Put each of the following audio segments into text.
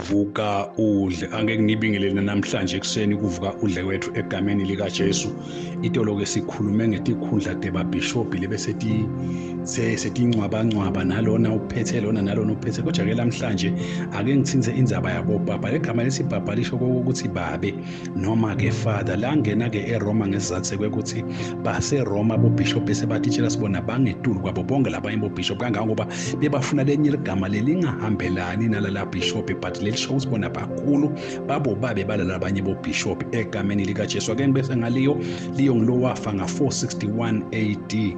vuka udle angeke ngibingelele namhlanje ekuseni kuvuka udle wethu egameni likaJesu itolo ke sikhulume ngetikhundla deba bishop lebe sethi setingcwabangcwaba nalona uphethe lona nalona uphethe kodwa ke namhlanje ake ngithinze indzaba yabo baba legama lesibhabha lisho ukuthi babe noma ke father la ngena ke eRoma ngesizathu kwekuthi base Roma bo bishop bese batitshela sibona bangetulu kwabo bonke labanye bo bishop kangangoba bebafuna lenye ligama lelingahambelani nalala bishop but lelisho ukuthi bona bakhulu babo babe balala abanye bo bishop egameni lika Jesu ake ngibese ngaliyo liyo ngilowafa nga 461 AD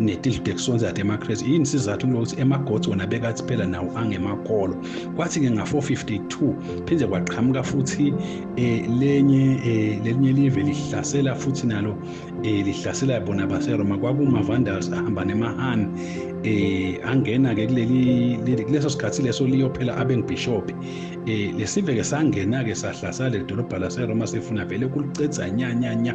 netidlo tekusonsa yatemakhresi yini sizathu kulokuthi emagods wona bekathi phela nawo angemakolo kwathi-ke nga-452 phinde kwaqhamuka futhi eh, lenye eh, lelinye live lihlasela futhi nalo eh, lihlasela bona baseroma kwakuma-vandals ahamba nemahani eh angena-ke kuleli kuleso sikhathi leso liyophela abengibhishobhi eh lesive-ke sangena-ke sahlasala leli dolobha laseroma sifuna vele kulicedza nyanyanya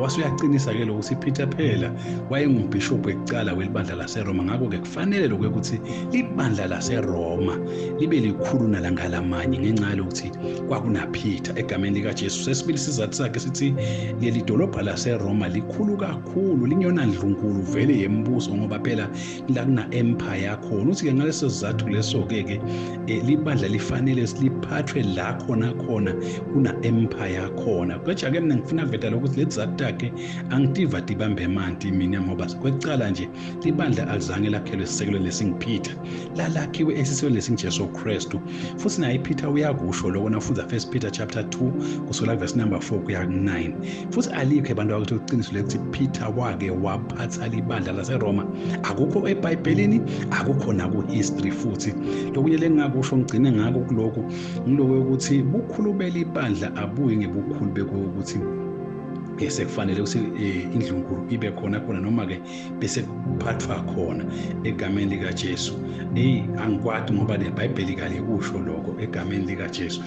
wase uyaqinisa ke lokho siphitha phela wayengumbhishobhu ekucala welibandla laseroma ngakho-ke kufanele lokho ukuthi ibandla laseroma libe likhulu nalangalamanye ngenxa yalokuthi kwakunaphitha egameni likajesu sesibili isizathu sakhe sithi leli dolobha laseroma likhulu kakhulu linyona ndlunkulu vele yemibuso ngoba phela la kuna-empire yakhona uthi-ke ngaleso sizathu leso-ke ke um libandla lifanele siliphathwe la khona khona kuna-empire yakhona kwaja-ke mina ngifuna veda lokuthi lezi zathu takhe angitiva tibambe emanti mina ngoba kwecala nje libandla alizange lakhelwe esisekelweni lesingiphitha lalakhiwe esisekelweni lesingijesu kristu futhi naye iphitha uyakusho loko nafunda first peter chapter 2 kusukela kuvesi number 4 kuya ku-9 futhi alikho abantu abakuthi uqiniso lekuthi phitha wake wab ukuphatha libandla laseroma akukho ebhayibhelini akukho nakuhistory futhi lokunye lengingakusho ngigcine ngako kulokhu ngiloko yokuthi bukhulu belibandla abuyi ngebukhulu bekuyokuthi sekufanele ukuthi eh, indlunkulu ibe khona khona noma-ke bese kuphathwa khona egameni likajesu eyi angikwadi ngoba nebhayibheli kalikusho lokho egameni likajesu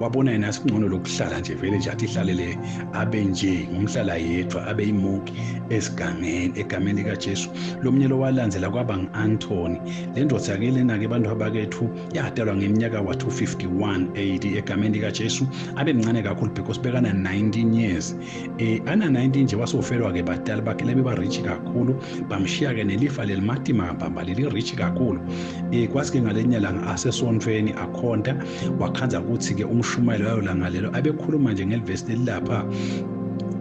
wabona yena asingcono lokuhlala nje vele nje athi ihlalele abe nje ngumhlala yedwa abe yimoki esigangeni egameni likajesu lo mnyelo walandela kwaba ngu-antoni le ndoda yake lena-ke abantu abakethu yadalwa ngeminyaka wa-251 ad egameni likajesu abe mncane kakhulu because bekana-19 years eh ana 19 nje wasofelwa ke badala bakhe lebe ba rich kakhulu bamshiya ke nelifa lelimatima bamba leli rich kakhulu eh kwasi ke ngalenya langa asesontweni akhonta wakhanza ukuthi ke umshumayelo wayo langa lelo abekhuluma nje ngelivesi lelapha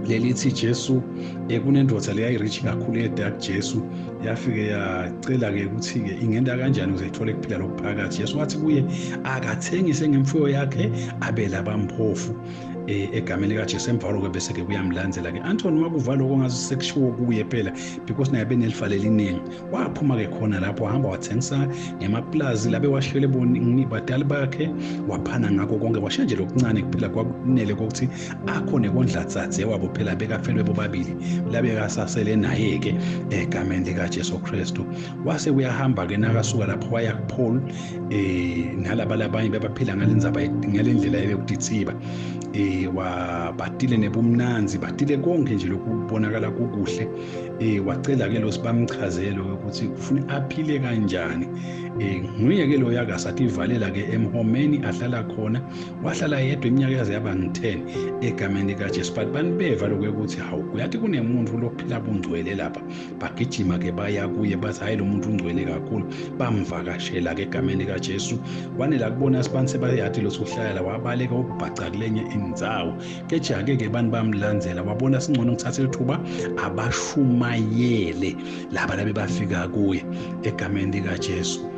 lelithi Jesu ekunendoda leya irich kakhulu edark Jesu yafike yacela ke ukuthi ke ingenda kanjani ukuze ithole kuphila lokuphakathi Jesu wathi kuye akathengise ngemfuyo yakhe abela bamphofu eh, egameni likajesu emva kwaloko bese-ke kuyamlandzela-ke antoni uma kuva loko ngaze sekushiwo kuye phela because naye benelifa leliningi waphuma-ke khona lapho wahamba wathengisa ngemapulazi labe washiwele badali bakhe waphana ngako konke washiya nje lokuncane kuphela kwakunele kokuthi akho nekondlatsathe wabo phela bekafelwe bobabili labekasasele naye-ke egameni likajesu kristu wase kuyahamba-ke nakasuka lapho waya kupholi eh nalaba labanye bebaphila ngalenzaba ngalendlela yokudithiba eh wabatile nebumnanzi batile konke nje lokubonakala kokuhle eh wacela ke lo sibamchazelo ukuthi ufuna aphile kanjani eh nguye ke lo yakasativalela ke emhomeni ahlala khona wahlala yedwa iminyaka yaze yaba ngi-10 egameni likaJesu but banibeva lokho ukuthi hawu kuyathi kunemuntu lophila bungcwele lapha bagijima ke baya kuye bathi hayi lo muntu ungcwele kakhulu bamvakashela ke egameni likaJesu wanela kubona asibantu sebayathi lo sohlala wabaleka ubhaca kulenye indzawo keje ake ke bantu bamlandzela wabona singcono ngithathe lithuba abashumayele laba labe bafika kuye egameni likaJesu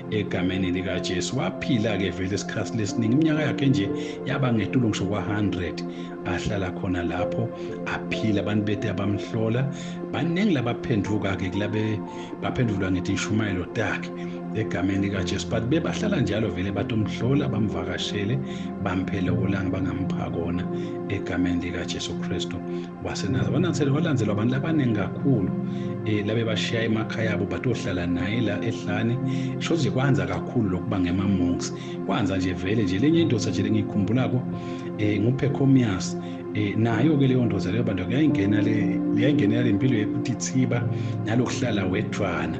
egameni likaJesu waphila ke vele isikhathi lesiningi iminyaka yakhe nje yaba ngetulo ngisho kwa-100 ahlala khona lapho aphila abantu bethe abamhlola baningi labaphenduka-ke kulabe baphendulwa ngithi ishumayelo takhe egameni likajesu but bebahlala njalo vele bathi umhlola bamvakashele bamphele okolanga bangampha kona egameni likajesu kristu wasenaza wanansele walandzelwa abantu labaningi kakhulu um labe bashiya emakhaya abo batohlala naye la ehlane sho nje kwanza kakhulu lokuba ngema-monks kwanza nje vele nje lenye indoda nje lengiyikhumbulako um eh, nguphecomias um eh, nayo-ke leyo ndoda leyo bantu kuyayingenela le mpilo yokuthi thiba nalokuhlala wedwana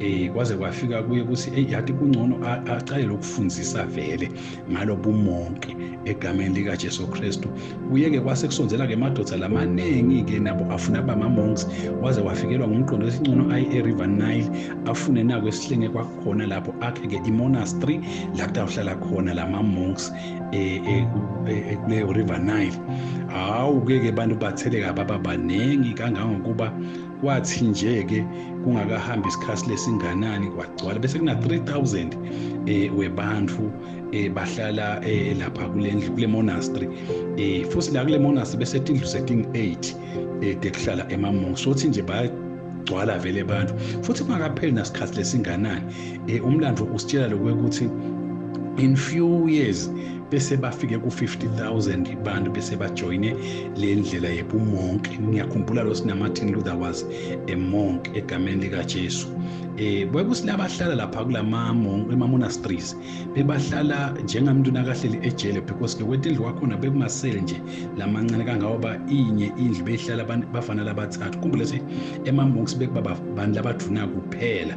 um kwaze kwafika kuye ukuthi eyi yathi kungcono acale lokufundisa vele ngalo bumonke egameni likaJesu Kristu kuyeke kwase kusonzela ke madoda lamaningi ke nabo afuna ba mamonks waze wafikelwa ngumqondo wesincono ayi eRiver Nile afune nako esihlenge kwakhona lapho akhe ke imonastery la kutawuhlala khona lama monks eh, eh, eh, kuleyo River Nile hawu ke ke bantu batheleka baba baningi kangangokuba kwathi nje ke kungakahambi isikhathi lesinganani kwagcwala bese kuna 3000 eh webantu eh bahlala eh lapha kulendlu kule monastery eh futhi la kule monastery bese tindlu setting 8 eh tekuhlala emamonk sothi nje ba gcwala vele abantu futhi kungakapheli nasikhathi lesinganani eh umlando usitshela lokuthi in few years bese bafike ku-50000 abantu bese bajoyine le ndlela yebumonk ngiyakhumbula lo sinamartin luther was a monk egameni likajesu eh kwekusilabahlala lapha kulama monk emamonasteries bebahlala njengamuntu nakahleli ejele because ke kwetendlu kwakhona bekumasele nje lamancane kangawoba inye indlu beyihlala bafana labathathu kumbule se emamonks bekuba bantu labaduna kuphela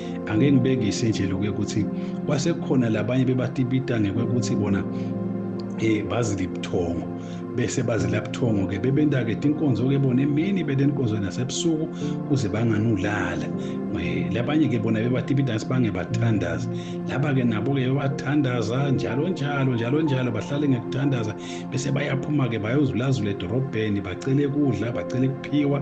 angeke ngibekise nje lokuye ukuthi kwasekhona labanye bebatibita ngekwekuthi bona eh bazile ibuthongo bese bazila buthongo ke bebenta ke tinkonzo ke bona emini bete inkonzo nasebusuku kuze banganulala eh, labanye ke bona bebatibita sibange bathandaza laba ke nabo ke bathandaza njalo njalo njalo njalo bahlale ngekuthandaza bese bayaphuma ke bayozulazula edorobheni bacele kudla bacele kuphiwa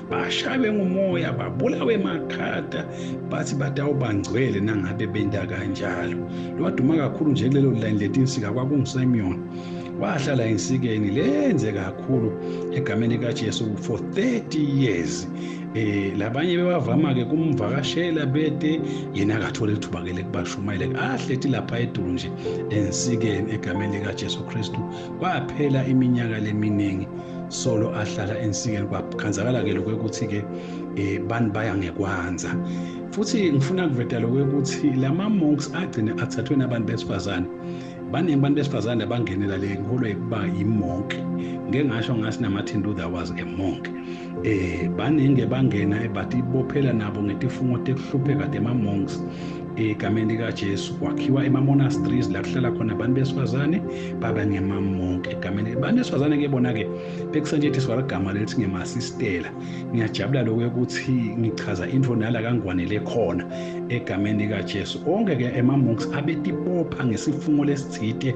bashaywe ngumoya babulawe makhada bathi batawubangcwele nangabe benda kanjalo lwaduma kakhulu nje kulelo line letinsika kwakungusemyoni wahlala ensikeni lenze kakhulu egameni kaJesu for 30 years eh labanye bebavama ke kumvakashela bete yena akathole ithuba ke lekubashumayela ahlethi lapha edulu nje ensikeni egameni lika Jesu Kristu kwaphela iminyaka leminingi solo ahlala ensikeni kwakhanzakala-ke lokho ukuthi-ke um eh, bani baya ngekwanza futhi ngifuna kuveta lokho ukuthi la ma-monks agcine athathwe nabantu besifazane baningi abantu besifazane abangenela le ngiholwa yokuba yimonke ngeke ngasho ngathi namartin luther was a monk eh baningi bangena ebathi ibophela nabo ngetifungo tekuhlupheka tema monks egameni likaJesu kwakhiwa emamonasteries la kuhlala khona abantu besifazane baba ngemamonke egameni abantu besifazane ke bona-ke bekusetshenziswa ligama lelithi ngemasistela ngiyajabula lokhu ukuthi ngichaza into nala kangwanele khona egameni likaJesu onke-ke emamonks abetibopha ngesifungo lesithite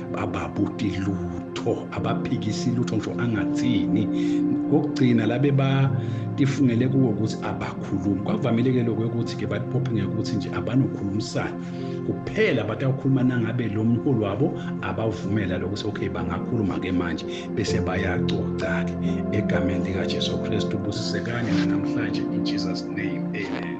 bababuti lutho abaphikisi lutho ngisho angathini kokugcina labe batifungele kuwo ukuthi abakhulumi kwavamile-ke lokho ukuthi ke batiphophe ngekuthi nje abanokhulumisana kuphela batawukhuluma nangabe lo mholi wabo abavumela lokho ukuthi okay bangakhuluma-ke manje bese bayacoca-ke egameni likajesu kristu busisekane nanamhlanje in jesus name amen